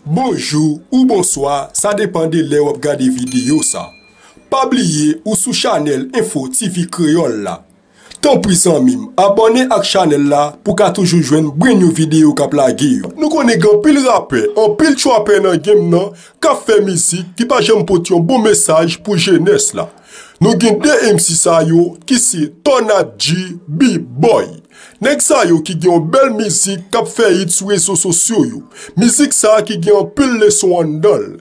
Bonjou ou bonswa sa depan de lè wap gade videyo sa. Pa bliye ou sou chanèl Info TV Kreyòl la. Tanpri zanmim abòne ak chanèl la pou ka toujou jwenn brenn you video kap lage yo. Nou konnen gen anpil rapè, anpil trapè nan game nan kap fè mizik ki pa janm pot yon bon mesaj pou jenès la. Nou gen 2 MC sa yo ki se Tornad G, B-boy. Nèg sa yo ki gen yon bèl mizik kap fè hit sou rezo sosyo yo. Mizik sa ki gen anpil leson anndanl.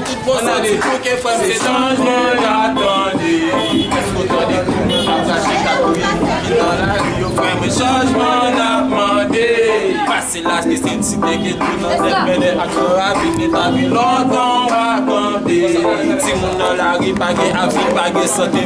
Tout bon sa li pou ke fwem se chanjman yap tande Eske ou tande tou moun kap krache kap ri pou ki nan lari yo fwem men chanjman nap mande Pase laj ke se ti nèg ke tou nan tèt mele ak yon ravi ke ta gen lontan wap tande Ti moun nan lari pa gen avni pa gen sante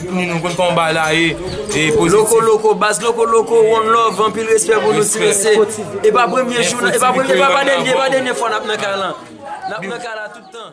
Timoun nou konn kòman bagay la ye e pozitif. Loko loko baz loko loko one love anpil respè pou nou ti mesye e pa premye jou nan e pa premye e pa dènye e pa dènye fwa nap nan kay lan nap nan kay la tout tan.